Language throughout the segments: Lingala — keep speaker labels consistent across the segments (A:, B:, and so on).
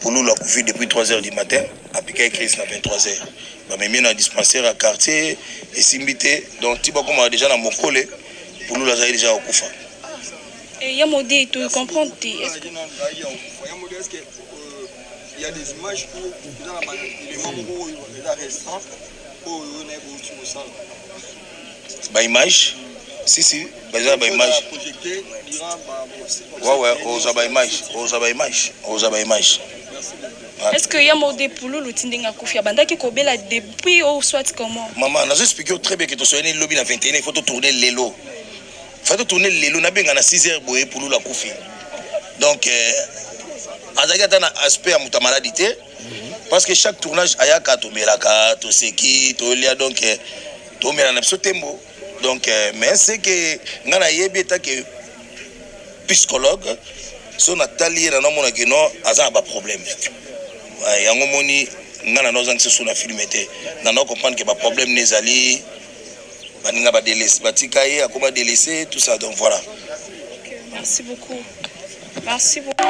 A: Pululu akufi depuis 3 heures du matin, apikaki crise na 23 heures. Bamemi ye na dispensaire ya quartier, esimbi te. Donc ti bakomaka dejà na mokole, Pululu azalaki dejà ya kokufa. Et
B: ya mode to comprendre te est ce que
C: ya mode est ce que il y a des images où dans la élément moko oyo eza récent oyo naye bouti kosala
A: ba image si si baza na ba image wawe ozwa ba image ozwa ba image ozwa ba image est
B: ce que ya mode pululu ti ndenge akufi abandaki kobela depuis ou soit comment mama nazo explike yo très
A: bien ke tosoyani lobi na 21 il faut totourne lelo fa totourne lelo nabenga na 6 heures boye pululu akufi donc euh, azalaki ata na aspect ya moto ya maladi te parce que chaque tournage ayaka tomelaka toseki tolia donc eh, tomela na biso tembo donc eh, mais c'est que ngai nayebi eta ke psychologue so natali ye nano amona kino aza na baproblème yango moni ngai nano ozangisa su na filme te nano comprendre ke baproblème ne ezali baninga badelese batika ye akoma delese tout ça donc voilà merci
B: beaucoup merci beaucoup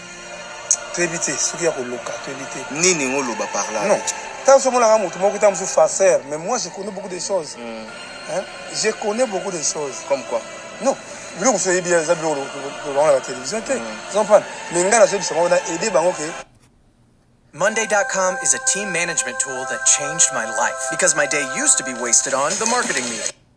D: toyebi te soki ya koloka toyebi te nini ngo loba par
A: là non tant soki monaka
D: moto moko ta mosusu farceur mais moi je connais beaucoup de choses mm. hein? je connais beaucoup de choses comme quoi
A: non biloko
D: mosusu oyebi eza biloko lobango na batelevizio te ozomprendre mm. mais ngai nazoyebisa bango na aide bango ke
E: Monday.com is a team management tool that changed my life because my day used to be wasted on the marketing meeting.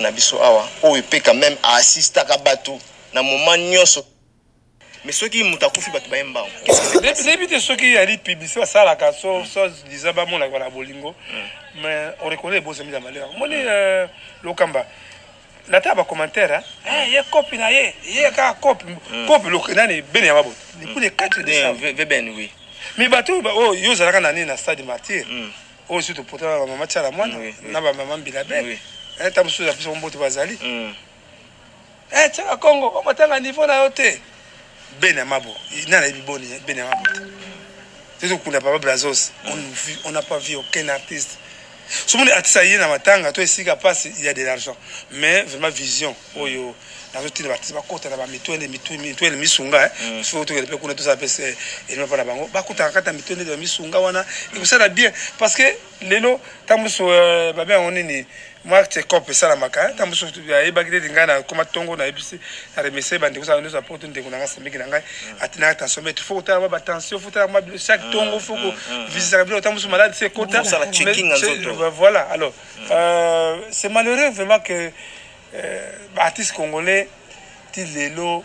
A: na biso awa oyo epe quand même aassistaka bato na moment nyonso mais soki moto akufi bato baye mbango nayebi te
D: soki yali publicité basalaka so so disa bamonaka na bolingo mais oreconnai ebosami ya malheur omoni lokamba Nata ba commentaire hein. Eh, ye copy na ye, ye ka copy. Mm. Copy le nani ben ya mabo. Depuis le 4 décembre. Bien, bien, bien, oui.
A: Mais bateau ba oh,
D: yo zalaka nani na stade martyr. Mm. Oh, surtout pour toi ba maman tchala mwana, oui, oui. na ba maman bilabe. Oui. Eh, tamusu za biso mbote bazali. Mm. Eh, tchala Congo, on matanga niveau na yo te. Beni ya mabo nani ayebi boni beni ya mabo te tozo kunda papa brazos on vit on n'a pas vu aucun artiste somoni artiste aye na matanga to esika pasi il y a de l'argent mais vraiment vision oyo nazo tina ba artiste ba kota na ba mitwende mitwende misunga eh faut to kende pe kuna to sala pe se elima pa na bango ba kota kata mitwende ba misunga wana ekosala bien parce que lelo ntango mosusu euh, babe yango nini mwa check-up esalamaka ntango mosusu ayebaki te ete ngai nakoma ntongo nayebisi na remercie bandeko zanga nyonso ya poto ndeko na ngai semeki na ngai mm. atinaka tension mete fo kotala mwa batension fo tala mwa bilo chaque mm, ntongo fo mm, kovisitaka bilo ntango mosusu maladi se ekota voilà alors euh, c'est malheureux vraiment que euh, baartiste congolais ti lelo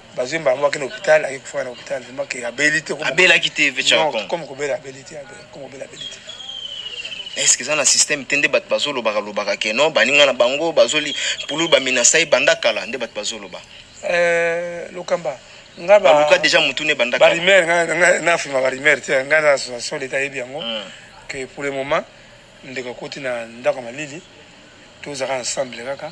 D: bazwi mbala moko akende hôpital aye kofaka na hôpital vraiment ke abeli te abelaki te vecharcom
A: comme kobela
D: abeli te comme kobela abeli te
A: est ce que eza na système te nde bato bazolobaka lobaka ke non baninga na bango bazoli pululu baminasa ye banda kala nde bato bazoloba euh,
D: lokamba nga ba baluka déjà mutu ne banda
A: kala barimer nga na
D: fima barimer te nga na association d'état yebi yango hmm. que pour le moment ndeko akoti na ndako ya malili tozalaka ensemble kaka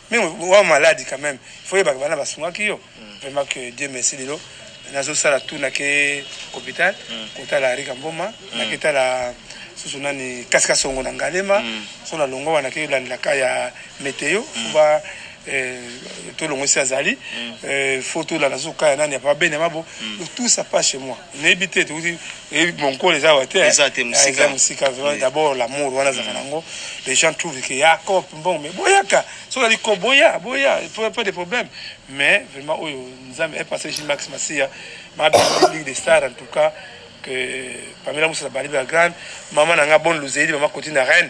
D: Mais wa malade quand même. Faut yeba bana basungaki yo. Vraiment que Dieu merci lelo. Nazo sala tout na ke hôpital kota la Rika Mboma na keta la susu nani kasika songo na ngalema so na longo wana ke landela ka ya meteo ba eh, tolongwisi azali eh, faut tolanda susu ka ya nani ya papa bene mabo donc tout ça passe chez moi nayebi te tokuti eyebi monkolo eza awa te eh. eza te mosika eza mosika vraiment d'abord l'amour wana azaka mm. nango les gens trouvent que ya cop mbongo mais boyaka soki ali ko boya boya pas de problème mais vraiment oyo nzambe est passé chez Max Masia ma ligue des stars en tout cas que Pamela Moussa Baliba grande maman nanga bonne luzeli maman Cotina Reine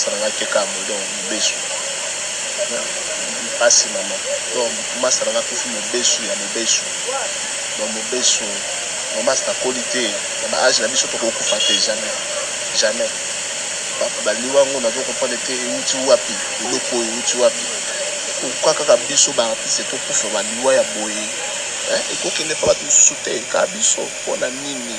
A: Salanga keka modon mobesu na pasi maman donc ma salanga kufi mobesu ya mobesu donc mobesu donc basi na koli te na ba age na biso toko kufa te jamais jamais bato ba liwa ngo nazo comprendre te ewuti wapi eloko oyo ewuti wapi pourquoi kaka biso ba artiste to kufa ba liwa ya boye hein eko kende pa bato mosusu te kaka biso pona nini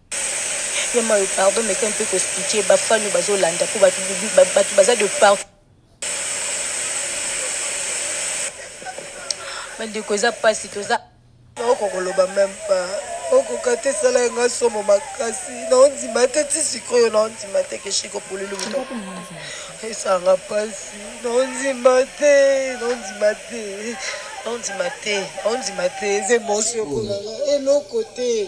F: Yema oyo pardon meka un peu ko expliquer ba fan oyo bazo landa po batu batu baza de partout. Ba ndeko eza pasi toza. Naoko koloba
G: meme pas okoka te esala nga somo makasi naondima te ti sikoyo naondima te ke shiko pululu moto esanga pasi naondima te naondima te naondima te naondima te eza emosi okolala eloko te